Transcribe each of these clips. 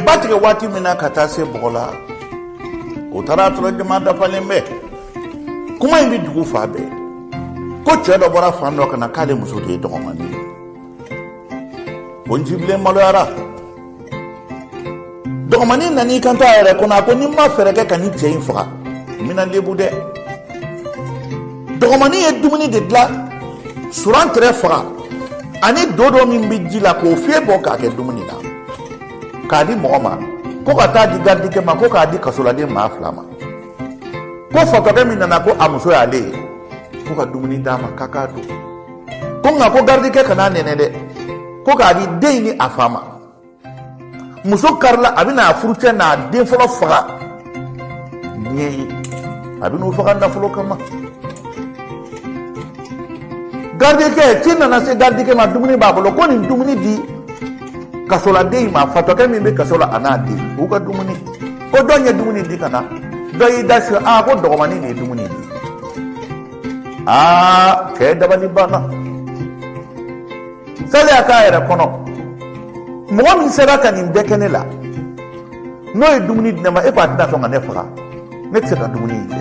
ba tigɛ waati min na ka taa se bɔgɔ la o taara a sɔrɔ jama dafalen bɛ kuma in bɛ dugu fan bɛɛ ko cɛ dɔ bɔra fan dɔ ka na k'ale muso de ye dɔgɔmani ye o njibilen maloyara dɔgɔmani nana i kanto a yɛrɛ kɔnɔ a ko ni n ma fɛɛrɛ kɛ ka nin cɛ in faga n bɛna lebu dɛ dɔgɔmani ye dumuni de dilan surantɛrɛ faga ani dodo min bɛ ji la k'o fiyɛ bɔ k'a kɛ dumuni na k'a di mɔgɔ ma ko ka taa di garidikɛ ma ko k'a di kasoladen maa fila ma ko fatɔkɛ min nana ko a muso y'ale ye ko ka dumuni d'a ma k'a k'a dun ko nka ko garidikɛ kan'a nɛnɛ dɛ ko k'a di den ni a fa ma muso karila a bɛna a furucɛ n'a den fɔlɔ faga diɲɛ ye a bɛna u faga nafolo kama garidikɛ ci nana se garidikɛ ma dumuni b'a bolo ko nin dumuni di kasoladen in ma fatɔkɛ min bɛ kaso la a n'a den u ka dumuni ko jɔn ye dumuni di ka na dɔ y'i da su aa ko dɔgɔmani de ye dumuni di aa cɛ dabali banna saliya k'a yɛrɛ kɔnɔ mɔgɔ min sera ka nin bɛɛ kɛ ne la n'o ye dumuni di ne ma e ko a tɛna sɔn ka ne faga ne tɛ se ka dumuni in kɛ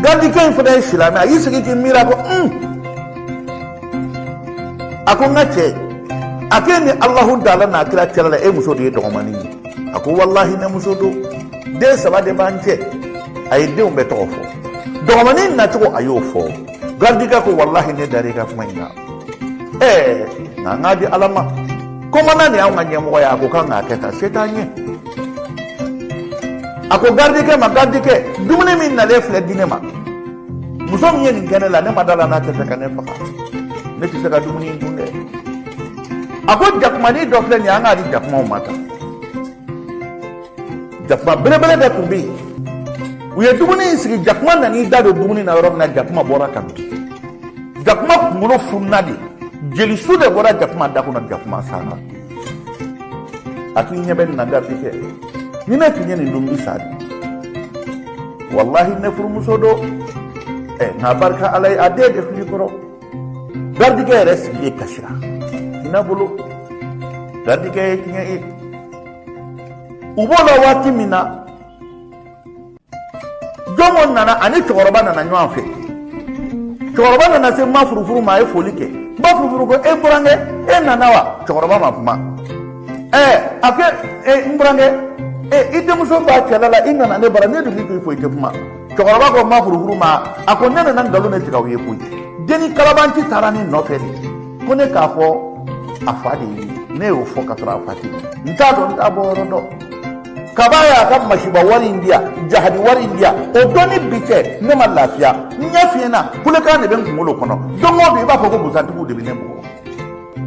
garidikɛ in fana ye silamɛ a y'i sigi k'i miiri a ko un a ko n ka cɛ a ko e ni alahu taala n'a kira cɛla la e muso de ye dɔgɔmani ye a ko walahi ne muso don den saba de b'an cɛ a ye denw bɛɛ tɔgɔ fɔ dɔgɔmani nacogo a y'o fɔ garidikɛ ko walahi ne dar'i ka kuma in na ɛɛ nka n k'a di ala ma kɔmandan de y'anw ka ɲɛmɔgɔ ye a ko k'an k'a kɛ tan se t'an ye a ko garidikɛ ma garidikɛ dumuni min nalen filɛ di ne ma muso min ye nin kɛ ne la ne ma da a la n'a tɛ se ka ne faga ne tɛ se ka dumuni in dun dɛ a ko jakumani dɔ filɛ nin ye an k'a di jakumaw ma tan jakuma belebele dɔ tun bɛ yen u ye dumuni in sigi jakuma nan'i da don dumuni na yɔrɔ min na jakuma bɔra ka bin jakuma kunkolo fununa de jelisu de bɔra jakuma da kɔnɔ jakuma sara a k'i ɲɛ bɛ nin na garidikɛ ni ne tun ye nin dun n bɛ sa dɛ walahi ne furumuso don ɛ eh, nka barika ala ye a den de filɛ n kɔrɔ garidikɛ yɛrɛ sigilen kasira hinɛ bolo garidikɛ ye tiɲɛ ye u b'o la waati min na jɔnko nana ani cɛkɔrɔba nana ɲɔgɔn fɛ cɛkɔrɔba nana se ma furufuru ma a ye foli kɛ ma furufuru ko e burankɛ e nana wa cɛkɔrɔba ma kuma ɛɛ a ko e n burankɛ e i denmuso b'a cɛla la i nana ne bara ne dun bɛ k'i fo i tɛ kuma cɛkɔrɔba ko ma furufuru ma a ko ne nana nkalon de tigɛ aw ye koyi denni kalabanci taara ne nɔfɛ de ko ne k'a fɔ a fa de ye ne y'o fɔ ka sɔrɔ a fa tɛ n t'a dɔn n t'a bɔ yɔrɔ dɔn kab'a y'a ka masiba wari in di yan jahadi wari in di yan o don ni bi cɛ ne ma lafiya n ɲɛ fiyɛnna kulekan de bɛ n kunkolo kɔnɔ don o don i b'a fɔ ko busantigiw de bɛ ne bugɔ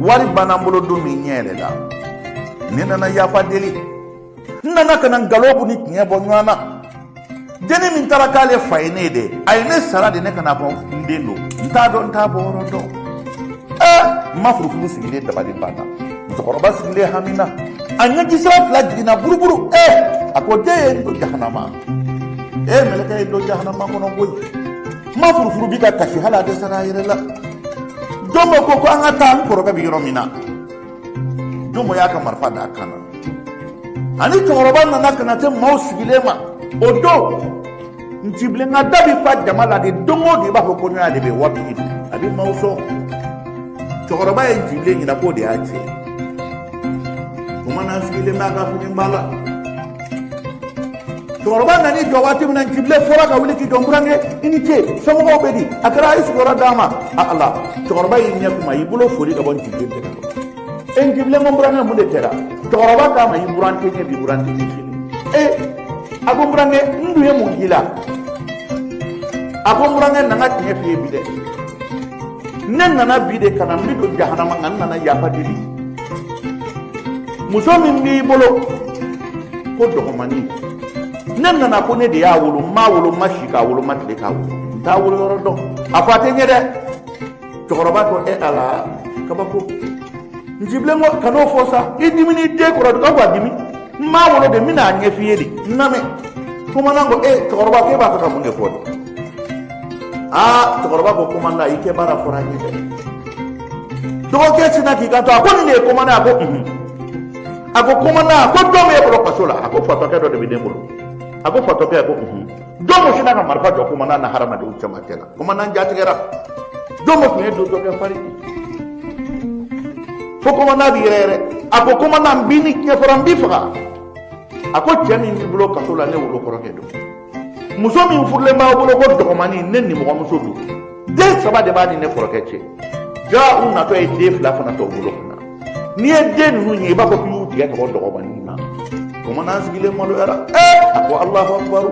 wari banna n bolo don min ɲɛ yɛrɛ la ne nana yafa deli n nana ka na nkalon ni tiɲɛ bɔ ɲɔgɔn na denni min taara k'ale fa ye ne ye dɛ a ye ne sara de ne ka n'a fɔ n den don n t'a dɔn n t'a bɔ yɔrɔ dɔn ɛɛ n ma furufuru sigilen dabali banna musokɔrɔba sigilen hami na a ɲɛjisira fila jiginna buruburu ɛɛ a ko den ye n don jahanama ee mɛlɛkɛ ye n don jahanama kɔnɔ koyi n ma furufuru bi ka kasi hali a dɛsɛra a yɛrɛ la jɔmɔ ko ko an ka taa n kɔrɔkɛ bɛ yɔrɔ min na jɔmɔ y'a ka marifa d'a kan na ani cɛkɔrɔba nana ka na se maaw sigilen ma o don ncibilen ka da bɛ fa jama la de don o don i b'a fɔ kɔɲɔya de bɛ waati de a bɛ maaw sɔn cɛkɔrɔba ye ncibilen ɲɛna k'o de y'a tiɲɛ tuma na n sigilen b'a ka fini ba la cɛkɔrɔba nana i jɔ waati min na ncibilen fora ka wuli k'i jɔ n burankɛ i ni ce somɔgɔw bɛ di a kɛra a ye sigiyɔrɔ d'a ma a ala cɛkɔrɔba y'i ɲɛ kumu a y'i bolo fori ka bɔ ncibilen tɛgɛ kɔrɔ e ncibilen ko n burankɛ mun de kɛra cɛkɔrɔba k'a ma i buran tɛ n ye bi buran tɛ n ye sini e a ko n burankɛ n dun ye mun k'i la a ko n burankɛ n nana ka tiɲɛ f'i ye bi dɛ ne nana bi de ka na n bɛ don jahanama nka n nana yafa deli muso min b'i bolo ko dɔgɔmani ne nana ko ne de y'a wolo n m'a wolo n ma si k'a wolo n ma tile k'a wolo n t'a wolo yɔrɔ dɔn a fa tɛ n ye dɛ cɛkɔrɔba ko e ala kabako ncibilen ko kan'o fɔ sa i diminen den kɔrɔ nka ko a dimi n m'a wolo dɛ n bɛna a ɲɛf'i ye de n lamɛn komandan ko e cɛkɔrɔba ko e b'a fɛ ka mun de fɔ de aa cɛkɔrɔba ko komandan i kɛ baara fɔra n ye dɛ dɔgɔkɛ sinna k'i kanto a ko nin de ye komandan a ko unhun a ko komandan a ko jɔn b'e bolo kaso la a ko fatɔkɛ dɔ de bɛ ne bolo a ko fatɔkɛ a ko unhun jɔmɔ sinna ka marifa jɔ komandan na hadamadenw cɛmancɛ la komandan jatigɛra jɔmɔ tun ye donsokɛ farin fo komandan bi yɛrɛyɛrɛ a ko komandan n b'i ni diɲɛ fara n b'i faga a ko cɛ min b'i bolo kaso la ne wolokɔrɔkɛ don muso min furulen b'a bolo ko dɔgɔmani ne nimɔgɔmuso don den saba de b'a ni ne kɔrɔkɛ cɛ jaa u natɔ ye den fila fana t'u bolo ka na n'i ye den ninnu ye i b'a fɔ k'i y'u tigɛ ka bɔ dɔgɔmanin na komandan sigilen maloyara ee a ko alahu akubaru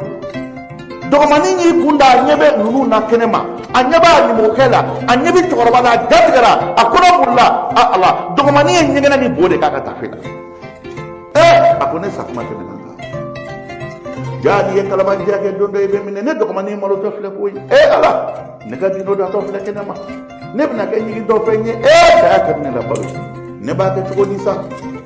dɔgɔmanin y'i kun da a ɲɛ bɛ ninnu na kɛnɛ ma a ɲɛ b'a nimɔgɔkɛ la a ɲɛ bɛ cɛkɔrɔba la a jatigɛra a kɔnɔ bolila a ala dɔgɔmanin ye ɲɛgɛnɛ ni bo de k'a ka tafe la a ko ne sakuma tɛmɛna n kan jaa n'i ye kalabanciya kɛ don dɔ i bɛ minɛ ne dɔgɔmanin malotɔ filɛ koyi e ala ne ka dino datɔ filɛ kɛnɛ ma ne bɛna kɛ ɲigi dɔ fɛn ye e saya kɛ ne la balo ne b'a kɛ cogo di sa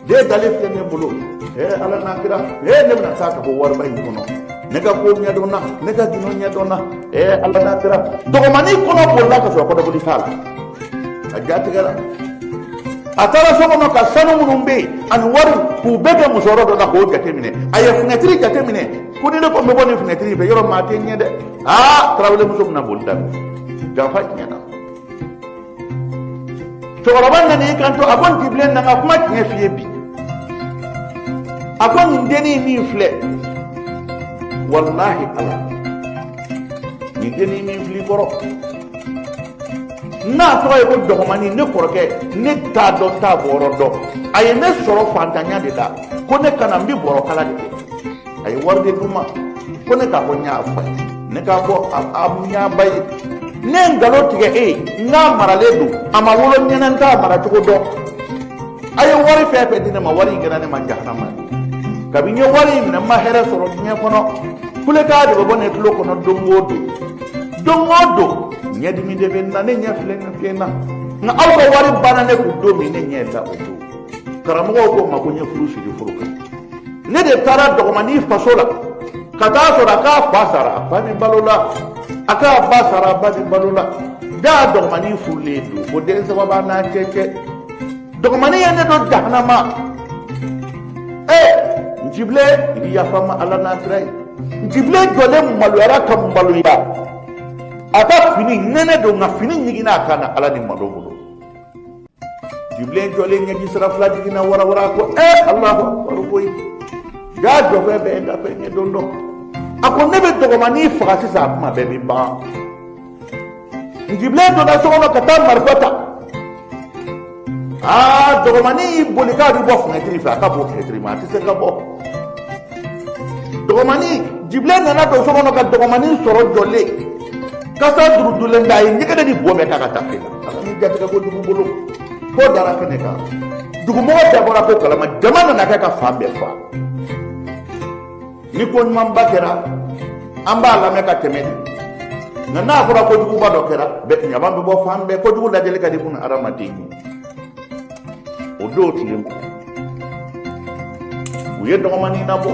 den dalen filɛ ne bolo e ala n'a kira e ne bɛna taa ka bɔ wariba in kɔnɔ ne ka ko ɲɛdɔnna ne ka dino ɲɛdɔnna e ala n'a kira dɔgɔmanin kɔnɔ bolila ka sɔrɔ kɔnɔboli t'a la a jatigɛra a taara so kɔnɔ ka sanu minnu bɛ yen ani wari k'u bɛɛ kɛ musɔrɔ dɔ la k'o jateminɛ a ye finɛtiri jateminɛ ko ni ne ko n bɛ bɔ nin finɛtiri fɛ yɔrɔ ma a tɛ ɲɛ dɛ aa tarawele muso bɛna boli daminɛ janfa tiɲɛna cɛkɔrɔba nana i kanto a ko njibilen na n ka kuma tiɲɛ f'i ye bi a ko nin dennin min filɛ walahi ala nin dennin min fil'i kɔrɔ n'a tɔgɔ ye ko dɔgɔmani ne kɔrɔkɛ ne t'a dɔn n t'a bɔrɔ dɔn a ye ne sɔrɔ fantanya de la ko ne kana n bi bɔrɔ kala de kɛ a ye wari de di n ma ko ne k'a fɔ n y'a fa ye ne k'a fɔ n y'a ba ye ne ye nkalon tigɛ e ye n k'a maralen don a ma wolo n ɲɛ na n t'a maracogo dɔn a ye wari fɛn fɛn di ne ma wari in kɛra ne ma jahanama ye kabini n ye wari in minɛ n ma hɛrɛ sɔrɔ diɲɛ kɔnɔ kulekan de bɛ bɔ ne tulo kɔnɔ don o don don o don ɲɛdimi de bɛ n na ne ɲɛ filɛ nin fiyɛnna nka aw ka wari banna ne kun don min ne ɲɛ da o don karamɔgɔw ko n ma ko n ye furu siri furu kan ne de taara dɔgɔmanin faso la ka taa sɔrɔ a k'a fa sara a fa bɛ balo la a k'a ba sara a ba bɛ balo la jaa dɔgɔmanin furulen don ko den saba b'a n'a cɛ cɛ dɔgɔmani ye ne don jahanama ee njibilen i bɛ yafa n ma ala n'a kira ye njibilen jɔlen maloyara ka maloya a ka fini nɛnɛ don nka fini ɲiginna a kan na ala ni malo bolo njibilen jɔlen ɲɛji sira fila jiginna warawara ko ee alakubaru koyi jaa jɔfɛn bɛɛ ye dafɛn ye don dɔ a ko ne bɛ dɔgɔmani faga sisan a kuma bɛɛ bɛ ban jibilen donna so kɔnɔ ka taa marifa ta aa dɔgɔmani y'i boli k'a bɛ bɔ fɛnɛtiri fɛ a ka bon fɛnɛtiri ma a tɛ se ka bɔ dɔgɔmani jibilen nana don so kɔnɔ ka dɔgɔmani sɔrɔ jɔlen kasa durudulen da a ye ɲɛgɛnɛ ni bo bɛɛ k'a ka taafe la ala ni jatigɛ kojugu bolo ko dara kɛnɛ kan dugumɔgɔ bɛɛ bɔra ko kalama jama nana kɛ ka fan bɛɛ fa ni ko ɲumanba kɛra an b'a lamɛn ka tɛmɛ nka n'a fɔra kojuguba dɔ kɛra jama bɛ bɔ fan bɛɛ kojugu lajɛli ka di kun adamaden ye o don tile ma u ye dɔgɔmanin labɔ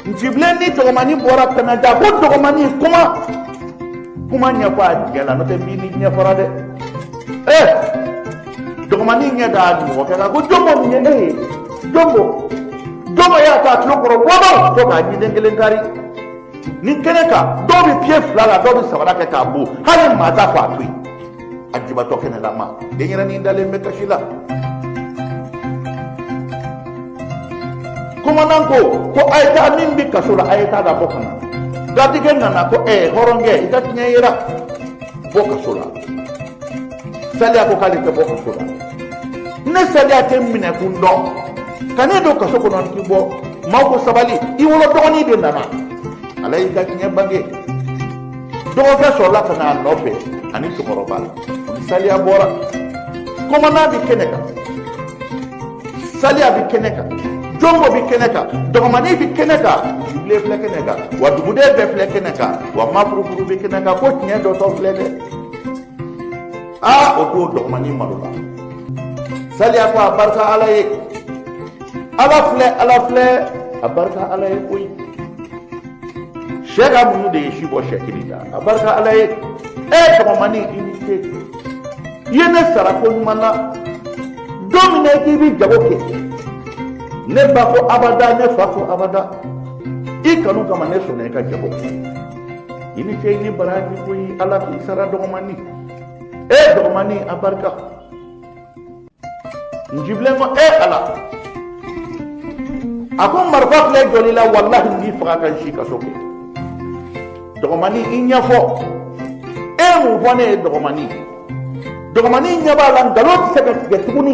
njibilen ni dɔgɔmanin bɔra kɛnɛda ko dɔgɔmanin kuma kuma ɲɛfɔ a jɛ la n'o tɛ n b'i ni diɲɛ fara dɛ ee dɔgɔmani ɲɛ da nimɔgɔkɛ kan ko jɔnbɔ nin ye ne ye jɔnbɔ jɔnbɔ y'a ta tulo kɔrɔ wɔɔrɔ fo k'a ɲinden kelen kari nin kɛnɛ kan dɔw bɛ piye fil'a la dɔw bɛ sabara kɛ k'a bon hali maa t'a fɔ a to yen a jibatɔ kɛnɛlama denyɛrɛnin dalen bɛ kasi la komandan ko ko a ye taa min bɛ kaso la a ye taa da bɔ ka na garidikɛ nana ko ɛɛ hɔrɔnkɛ i ka tiɲɛ yera bɔ kaso la saliya ko k'ale tɛ bɔ kaso la ne saliya tɛ n minɛkun dɔn ka ne don kaso kɔnɔ n ti bɔ maaw ko sabali i wolo dɔgɔnin de nana ala y'i ka tiɲɛ bange dɔgɔkɛ sɔrɔla ka n'a nɔfɛ ani cɛkɔrɔba ni saliya bɔra komandan bɛ kɛnɛ kan saliya bɛ kɛnɛ kan jɔnbɔ bɛ kɛnɛ kan dɔgɔmani bɛ kɛnɛ kan jibilen filɛ kɛnɛ kan wa duguden bɛɛ filɛ kɛnɛ kan wa mafurufuru bɛ kɛnɛ kan ko tiɲɛ dɔtɔ filɛ dɛ aa o don dɔgɔmani malola saliya ko a barika ala ye ala filɛ ala filɛ a barika ala ye koyi sɛ ka muɲu de ye si bɔ sɛkili la a barika ala ye e dɔgɔmani i ni ce i ye ne sara ko ɲuman na don min na k'i bɛ jago kɛ ne ba ko abada ne fa ko abada i kanu kama ne sɔnna i ka jago kɛ i ni cɛ i ni baraji koyi ala k'i sara dɔgɔmani e dɔgɔmani a barika n jibilen ko e ala a ko marifa filɛ jɔli la walahi n b'i faga ka n si kaso kɛ dɔgɔmani i ɲɛfɔ e mun fɔ ne ye dɔgɔmani dɔgɔmani ɲɛ b'a la nkalon tɛ se ka tigɛ tuguni